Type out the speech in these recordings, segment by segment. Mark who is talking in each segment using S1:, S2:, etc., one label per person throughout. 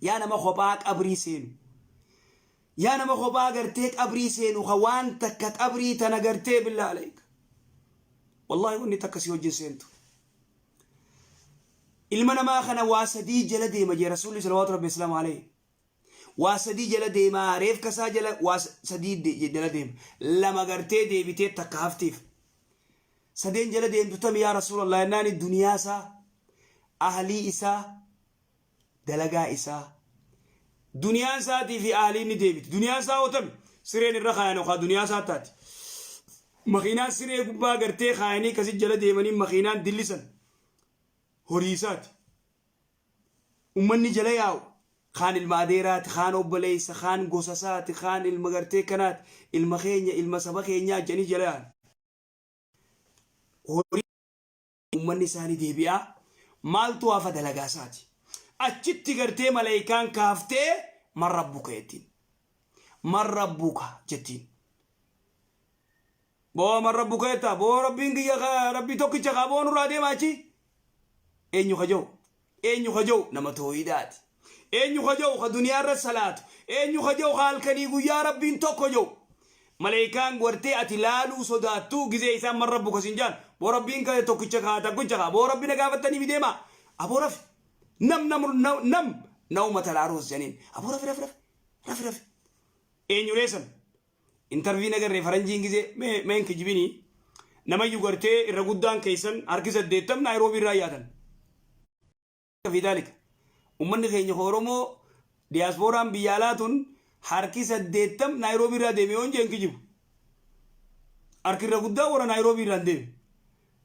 S1: Yaa nama kophaa qabrii seenu. Yaa nama kophaa gartee qabrii seenu ka waan takka qabrii tana gartee billaa alayka. Wallaahi wanni takka si wajjin seentu. Ilma namaa kana waa sadii jala deema jee rasuulli salawaatu rabbi islaamu alayhi. Waa sadii jala deemaa reefka isaa jala waa sadii de- jala deema. Lama gartee deebitee takka haftiif. Sadeen jala deemtu tami yaa rasuulallah jennaani duniyaa isaa ahlii isaa dalagaa isaa duniyaan isaatii fi aaliin ni deebiti duniyaan isaa ootame sireen irra kaayan okaa duniyaa isaa taati makiinaan siree gubbaa gartee kaayanii kasi jala deemanii makiinaan dillisan horii isaati ummanni jala yaa'u kaan ilma adeeraati kaan obboleessa kaan gosa isaati kaan ilma gartee kanaati ilma keenya ilma saba keenyaa jedhanii jala yaa'an horii Ummanni isaa ni deebi'a. Maaltu hafa dalagaa isaati. Achitti gartee malaykaan kaaftee man rabbuka jettiin. Man rabbuka jettiin. Boo man rabbuka jettaa boo rabbiin kiyya ka- rabbii tokkicha kaa boo nurraa deema achi. Eenyu ka jau. Eenyu ka ja'u nama towhiidaati. Eenyu ka ja'u ka duniyaa irratti salaatu. Eenyu ka ja'u ka halkanii guyyaa Rabbiin tokko ja'u. Maleykaan gartee ati laaluu sodaattu gizee isaan man rabbuka sin ja'an boo Rabbiin ka tokkicha ka takkucha ka boo Rabbi na gaafattanii mi deemaa aboo rafi nam nam nam naumata laaruus ja'aniin aboo rafi rafi rafi rafi rafi eenyulee san Intervii nagarre faranjiin gizee mee mee hin kijibini namayyu gartee irra guddaan keessan harki saddeettam naayiroobii irraa yaatan. fi daalika. Ummanni keenya ka Oromoo diyaaspooraan biyya alaa tun harki saddeettam naayiroobii irraa deeme yoon jee hin kijibu. Harki irra guddaa warra naayiroobii irraa hin deeme.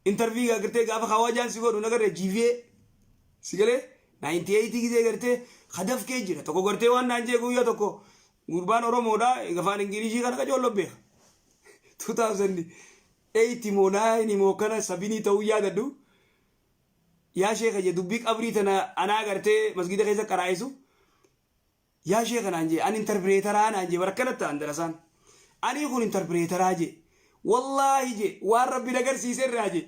S1: Intervii gaa gartee gaafa kawaajaan si godhu nagarre jiivee si galee 98 gizee gartee ka dafkee jira tokko gartee waan naan jee guyyaa tokko Gurbaan Oromoodha afaan Ingilishii kana qacoolloon beeka. 2008 moo 9 moo kana sabinii ta'uu yaadadhu. Yaa sheeka jee dubbii qabrii tana anaa gartee masgiida keessa qaraa'isu. Yaa sheeka naan jee ani intarpireetaraa naan jee barakkana ta'an darasaan. Anii kun intarpireetaraa jee. Wallaahi jee waan rabbi na garsiise irraa jee.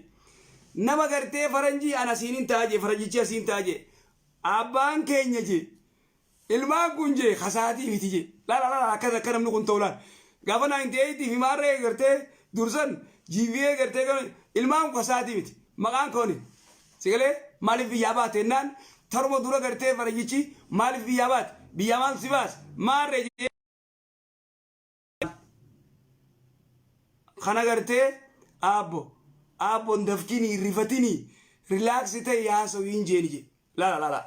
S1: Nama gartee faranjii an asiinin ta'a jee faranjichi asiin ta'a jee. Abbaan keenya jee. Ilmaan kun jee kasaatii miti jee lala lala akkas akka namni kun ta'u laal gaafa 98 fi maarree eegartee dursan jiivii eegartee kan ilmaan kun kasaatii miti maqaan kooni sigalee maaliif biyyaa baate ennaan taruma dura gartee faranjichi maaliif biyyaa baate biyyaa maal si baase maarree jee kan agartee aabbo aabbon dafkini irrifatini rilaaks ta'e yaasawu hin jeeni je laala laala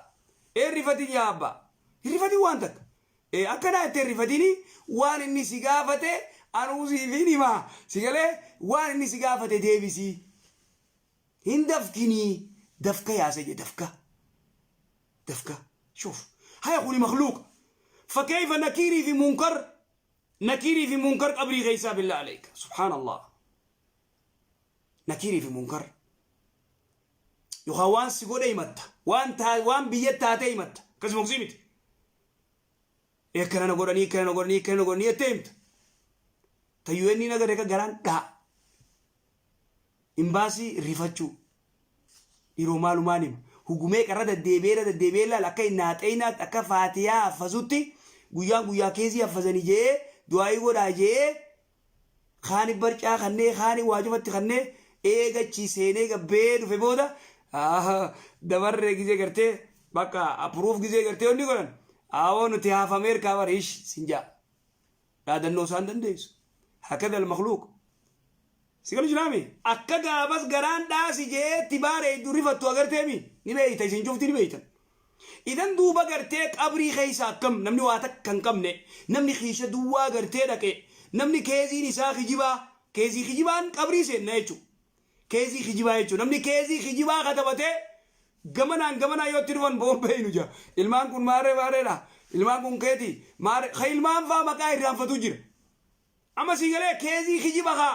S1: ee rifatin yaa abba hirrifatin waan takka ee akkanaa itti hirrifatini waan inni si gaafate anuu siifin himaa si galee waan inni si gaafate deebisii Hin dafkinii dafka yaa saida dafka dafka shuf haya kuni makhluuqa fakeyfa nakiirii fi munkar nakiirii fi munkar qabrii keysaa billah aleyka subhaan allah nakiirii fi munkar yokaa waan si godhe himatta waan taa waan biyyatti taate himatta akkasuma kusii miti Akkana na godhanii, akkana na godhanii, akkana na godhanii jettee himta. Ta UN hin agarre ka garaan dhaha. Imbaasii rifachuu. Dhiroo maalumaan hima. Hugumee qarra deddeebi'ee irra deddeebi'ee ilaala akka hin naaxeeynaatti akka faatiyaa haffazutti guyyaan guyyaa keezii haffazanii je'ee du'aayii godhaa je'ee Kaani barcaa kannee kaani waa cufatti kannee eega achii seenee gabbee dhufe booda dabarre gizee gartee bakka approve gizee gartee wanni godhan aawoo nuti haafameer kaa bar hish sin jaa dhaadannoo isaan dandeessu hakada almakluuq si galu jiraami akka gaafas garaan dhaasi jeetti baara hedduu rifattu agarteemi ni beeyta isin cufti ni beeytan Idan duuba gartee qabrii keessa akkam namni waa takka hin qabne namni kiisha duwwaa gartee dhaqe namni keeziin isaa kijibaa keezii kijibaan qabrii seenna jechuu keezii kijibaa jechuu namni keezii kijibaa katabatee gamanaan gamanaan yoo itti dhufan boon beeynu jaa ilmaan kun maarree maarreedha ilmaan kun keetii maarree ka ilmaan faa maqaa irraanfatuu jira amma sii galee keezii kijiba kaa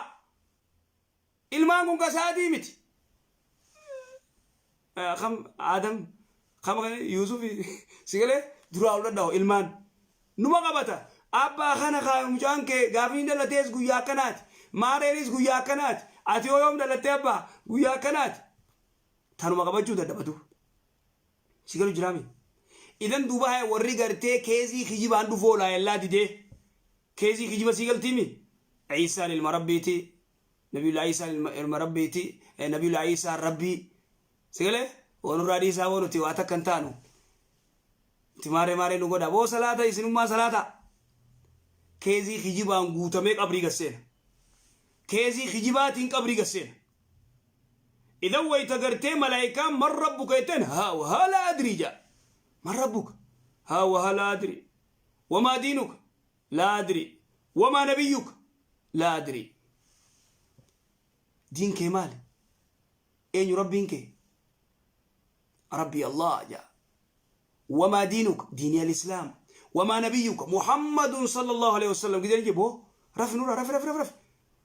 S1: Ilmaan kun ka isaatii miti. Eh, Kam Adam kam kan Yuusuf si galee duraa ol dhadhaa'u ilmaan. Numa qabata. Abba kana kaa mucaan kee gaafni hin dhalatees guyyaa akkanaati. Maareenis guyyaa akkanaati. Ati yoo yoom dhalattee abbaa guyyaa akkanaati. Tanuma qabachuu dadhabatu. Si galu jiraami. Idan duuba haya warri gartee keezii kijibaan dhufoo laayellaa didee. Keezii kijiba sii galtiimi. Ciisaan ilma rabbiiti. Nabiyullaahi Iisaan ilma, ilma Rabbiiti, eh, Nabiyullaahi Iisaan Rabbii. Si galee? Woo nurraa dhiisaa woo nuti waa takka hin taanu. Nuti maarree maarree nu godha. Woo salaata isinummaa salaata. Keezii kijibaan guutamee qabrii gad seena. Keezii kijibaatiin qabrii gad seena. Idan wayita gartee malaayikaan man rabbuka jetteen haa wahaa laa adrii ja'a. Man rabbuka? Haa wahaa laa adrii. Wamaa diinuka? laa adrii wamaa nabiyyuka laa adrii diin kee maali eenyu rabbiin kee rabbii allah jaa wamaa diinuka diinii alislaam wamaa nabiyyuka muhammadun sallallahu alaihi wasallam gidee jiboo rafi nura rafi rafi rafi rafi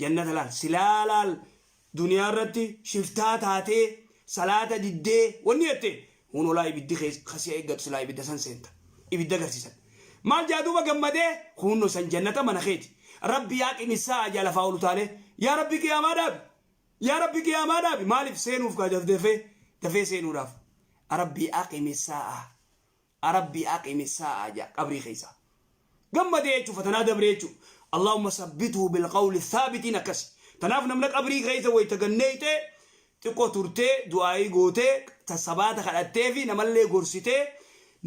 S1: jannata laal silaa laal duniyaa irratti shiftaa taatee salaata diddee wanni jette hunolaa ibiddi kees kasiya eeggatu silaa ibidda san seenta ibidda garsiisan maal jaa duuba gammadee hunno san jannata mana keeti rabbi yaa qimissaa ajaa lafaa ol utaalee yaa rabbi qiyaamaa dhaabi yaa rabbi qiyaamaa dhaabi maaliif seenuuf kaa dafdafee dafee seenuudhaaf rabbi aqimi saa'a a rabbii aqimi saa'a ja'a qabrii keessaa gammadee jechu fatanaa dabree jechu allahumma sabbituhu bilqawli thaabitiin akkasi tanaaf namna qabrii keessa wayta ganneeyte xiqqo turtee du'aayii gootee ta sabaata kadhattee fi namallee gorsitee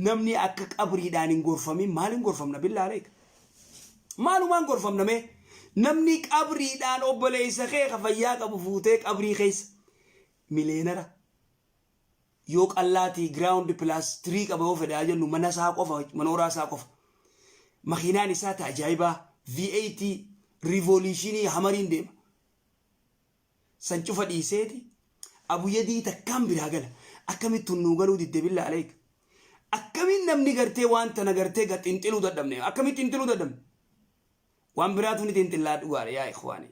S1: namni akka qabriidhaan hin gorfamin maaliin gorfamna billaa aleek maalumaan gorfamna mee namni qabriidhaan obboleeysa kee ka fayyaa qabu fuutee qabrii keessa mileenara yoo qallaatii ground plus three qaba yoo fedhaa jennu mana isaa qofa manooraa isaa qofa makiinaan isaa ta ajaa'ibaa V8 riivooliishinii hamariin deema san cufa dhiiseeti abuyadii takkaan biraa gala akkamittuun nuu galuu didde billa aleek akkamiin namni gartee waan tana gartee ga xinxiluu dadhabne akkamiin xinxiluu dadhabne waan biraatu ni xinxillaa dhugaadha yaa ikhwaanii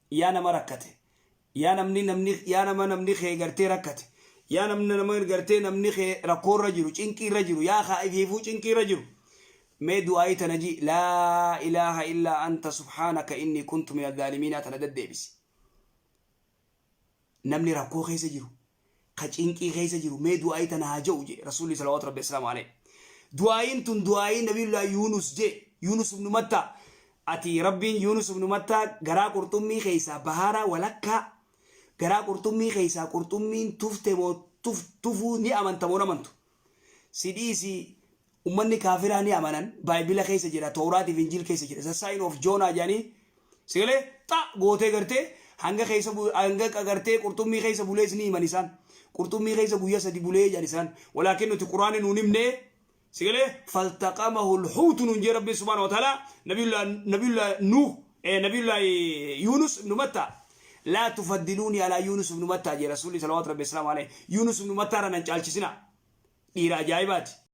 S1: yaa nama rakkate yaa namni namni yaa nama namni kee gartee rakkate yaa namni nama gartee namni kee rakkoo irra jiru cinqii irra jiru yaa kaa ifiifuu cinqii irra jiru mee du'aayii tana ji laa ilaaha illaa anta subhaanaka inni kuntu mina zaalimiinaa tana daddeebisi Namni rakkoo keessa jiru, ka cinqii keessa jiru mee du'aa'ii tana haa ja'u jee Rasuulli salawaatu Rabbi wassalaamu alayhi. Du'aa'iin tun du'aa'ii Nabiyullaahi Yuunus jee, Yuunus ibnu Mattaa. Ati Rabbiin Yuunus ibnu Mattaa garaa qurxummii keessaa bahaara walakkaa garaa qurxummii keessaa qurxummiin tufte moo tufuu ni amanta moo hin amantu? Si dhiisi Ummanni kaafiraa ni amanan baibila keessa jira towraat fi injil keessa jira the sign of Jonah jedhanii sagalee xa gootee gartee hanga keessa hanga qagartee qurxummii keessa bulees ni himan isaan qurxummii keessa guyya sadi bulee jedhan isaan walaakin nuti quraani nuun himne sagalee faltaqamahu lhuutu nuun jee rabbiin subhaana wa ta'ala nabiyullah nabiyullah nuuh eh, nabiyullah yunus ibnu matta laa tufaddiluuni alaa yunus ibnu matta jee rasuulli salawaatu rabbi islaamu alayhi yunus ibnu matta irra nan caalchisina dhiira ajaa'ibaati